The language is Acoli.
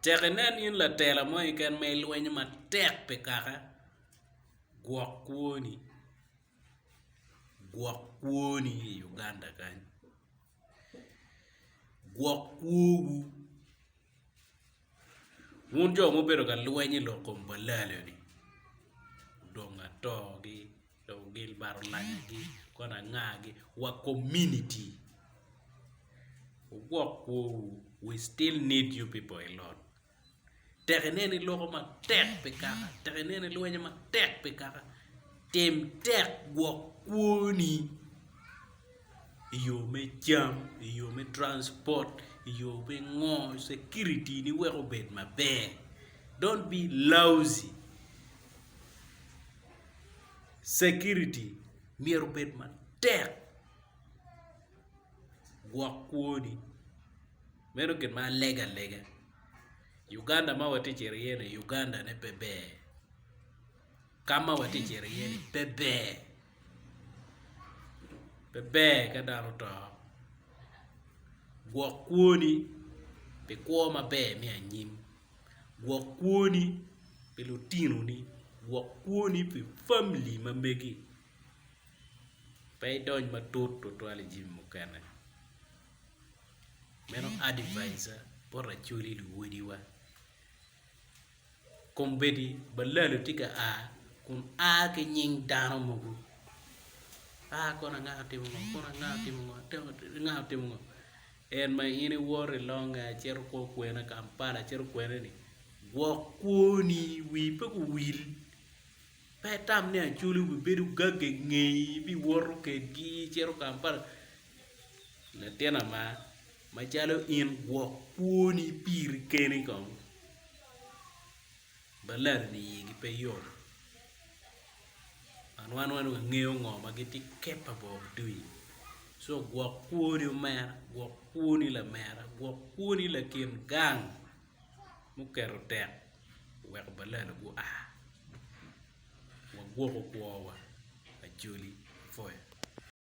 Tek inen in latela mo keken ma ilwenyo matek pi kaka. Gwok kwoni. Gwok kwoni i Uganda kany. Gwok kwowu. Wun jo mubedo ka lweny i lok kom balalo-ni, odong atogi. dong Gilbert olanyagi kong angagi wa community wugwok kwowu we still need you people a lot tek ineno iloko matek pi kaka tek ineno ilwenyo matek pi kaka tim tek gwok kwoni i yo me cam i yo me transport i yo me ngo security ni wek obed maber don't be lousy Security myero obed matek gwok kwoni meno gin ma alega lega Uganda ma watye ka cito iye ni Uganda ne pe ber ka ma watye ka cito iye ni pe ber pe ber ka dano oto gwok kwoni pi kwo maber me anyim. Gwok kwoni pi lutinoni, gwok kwoni pi famili ma megi. Pe idony matut twatwal i jami mukene. Meno advise-a bot lacoli luwodiwa. Kombeddi balalo tye ka a kun a ki nying dano mogo, a kona nga otimo ngo, kona nga otimo ngo, kona nga otimo ngo. En ma in iwoto i longe acito kwo kwena Kampala acito kwena ni gwok kwoni wi pe guwil pe itam ni acoli wi bedo gagge ingeyi bi woto kedgi icito Kampala latina ma macalo in gwok kwoni piri keni kong. Ba laro ni iyigi pe yom. And wan wano wangeyo ngo ma gitye capable of doing. So gwok kwoni omera, gwok kwoni lamera, gwok kwoni lakin gang muketo tek weko balalo gu a. Wagwoko kwowa. Acholi, Foya.